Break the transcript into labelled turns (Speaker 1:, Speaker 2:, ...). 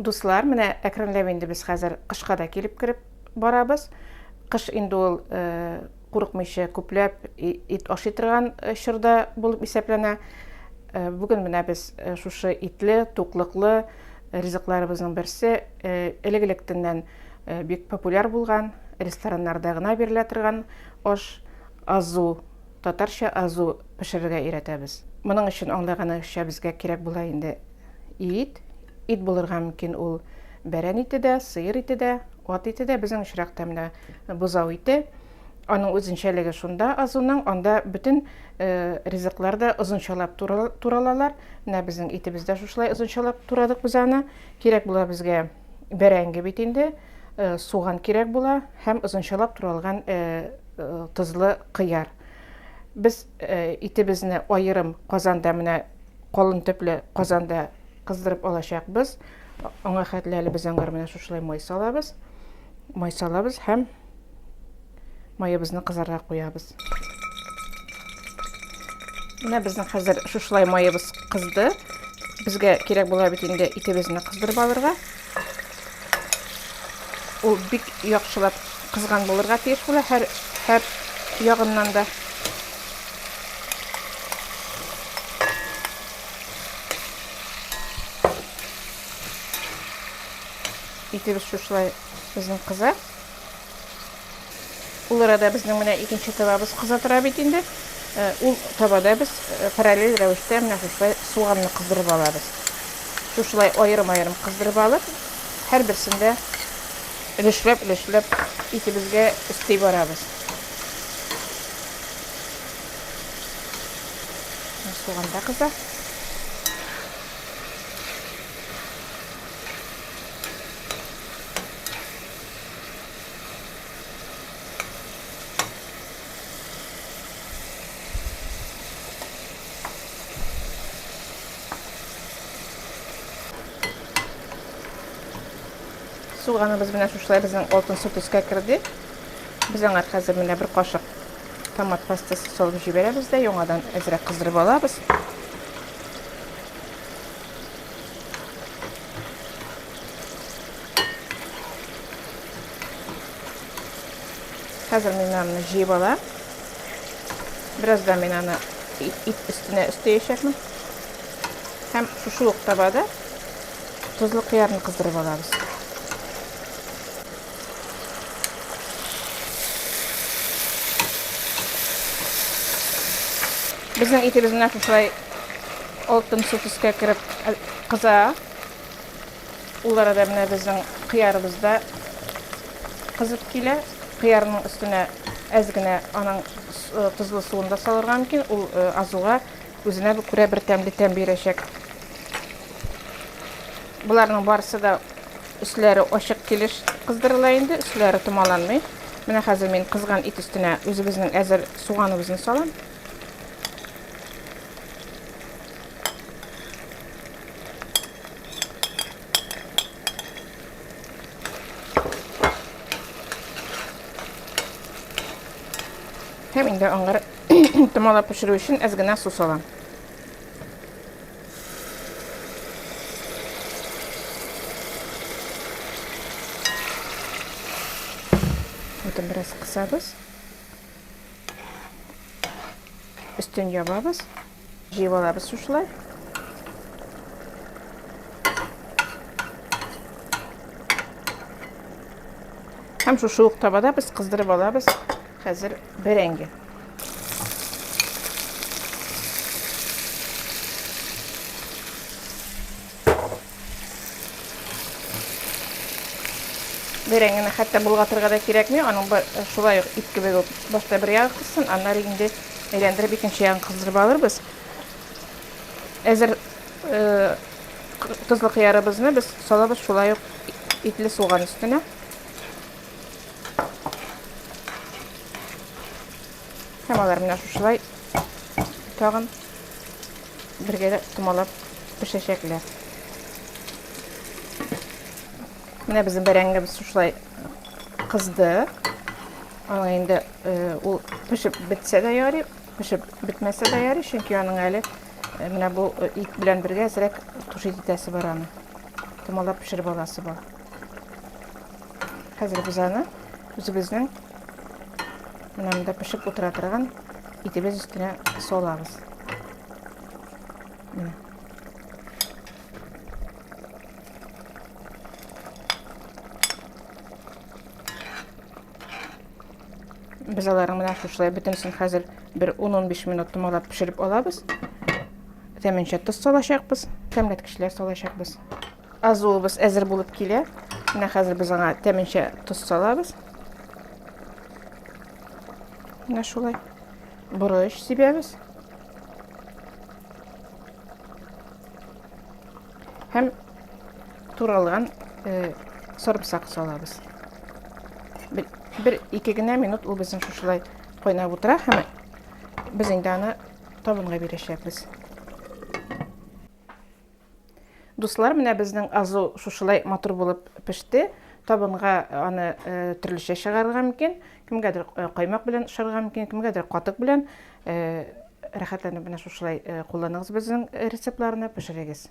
Speaker 1: Дуслар, менә әкренләп инде без хәзер кышка да килеп кереп барабыз. Кыш инде ул э, курыкмыйча күпләп ит ашый торган э, чорда булып исәпләнә. Э, бүген менә без шушы итле, туклыклы ризыкларыбызның берсе элек-электәннән бик популяр булган, рестораннарда гына бирелә торган аш азу, татарча азу пешерергә өйрәтәбез. Моның өчен аңлаганча безгә кирәк була инде Ит, ит булырга мөмкин ул бәрән ите дә, сыер ите дә, ат ите дә, безнең очракта менә бозау ите. Аның үзенчәлеге шунда азуның, анда бөтен э, ризыклар да озынчалап туралалар. Менә безнең итебез дә шушылай озынчалап турадык без аны. Кирәк була безгә бәрәңге бит инде, э, суган кирәк була һәм озынчалап туралган э, тозлы кыяр. Без итебезне аерым казанда менә Калын төпле казанда кыздырып алачакбыз. Аңа хәтле әле без аңгар менә шушылай май салабыз. Май салабыз һәм маебызны кызарга куябыз. Менә безнең хәзер шушылай маебыз кызды. Безгә кирәк була бит инде итебезне кыздырып алырга. Ул бик яхшылап кызган булырга тиеш була һәр һәр ягыннан да. Итебез шушылай безнең кыза. Ул арада безнең менә икенче табабыз кыза тора бит инде. Э, ул табада без э, параллель рәвештә менә шушылай суганны кыздырып алабыз. Шушылай аерым-аерым кыздырып алып, һәр берсендә өлешләп-өлешләп итебезгә өсти барабыз. Суганда кыза. Суганыбыз менә шушылай безнең алтын су төскә керде. Без аңа хәзер менә бер кашык томат пастасы салып җибәрәбез дә, яңадан әзрәк кыздырып алабыз. Хәзер мин аны җыеп алам. Бераздан мин аны ит өстенә өстәячәкмен. Һәм шушы ук табада тозлы кыярны кыздырып алабыз. Безнең итебез менә шушылай алтын су төскә кереп э, кыза. Ул арада менә безнең кыярыбыз да кызып килә. Кыярның өстенә әз генә аның э, тозлы суын да салырга мөмкин. Ул э, азуга Үзенә күрә бер тәмле тәм бирәчәк. Боларның барысы да өсләре ачык килеш кыздырыла инде, өсләре томаланмый. Менә хәзер мин кызган ит өстенә үзебезнең әзер суганыбызны салам. Һәм инде аңгыр Томалап пешерү өчен әз генә су салам. Утын бераз кысабыз. Өстен ябабыз. Җыеп алабыз шушылай. Һәм шушы ук табада без кыздырып алабыз. Хәзер бәрәңге. бәрәңге генә хәтта болгатырга да кирәкми аның шулай ук ит кебек үк башта бер ягы кызсын аннары инде әйләндереп икенче ягын кыздырып алырбыз әзер э, тозлы кыярыбызны без салабыз шулай ук итле суган өстенә һәм алар менә шушылай тагын Бергә томалап пешәчәкләр. Менә безнең бәрәңгебез шушылай кызды. Аңа инде ул пешеп бетсә дә ярый, пешеп бетмәсә дә ярый, чөнки аның әле менә бу ит белән бергә әзрәк тушит итәсе бар аны. Томалап пешереп аласы бар. Хәзер без аны үзебезнең менә монда пешеп утыра торган итебез өстенә салабыз. Менә. Без аларны менә шушылай бөтенесен хәзер бер 10-15 минут томалап пешереп алабыз. Тәменчә тоз салачакбыз, тәмләткечләр салачакбыз. Азуыбыз әзер булып килә. Менә хәзер без аңа тәменчә тоз салабыз. Менә шулай. Борыч сибәбез. Һәм туралган э, сарымсак салабыз. Бер, бер ике генә минут ул безнең шушылай кайнап утыра һәм без инде аны табынга бирәчәкбез. Дуслар, менә безнең азу шушылай матур булып пеште. Табынга аны төрлечә чыгарырга мөмкин. Кемгәдер каймак белән ашарга мөмкин, кемгәдер катык белән. Рәхәтләнеп менә шушылай кулланыгыз безнең рецептларны, пешерегез.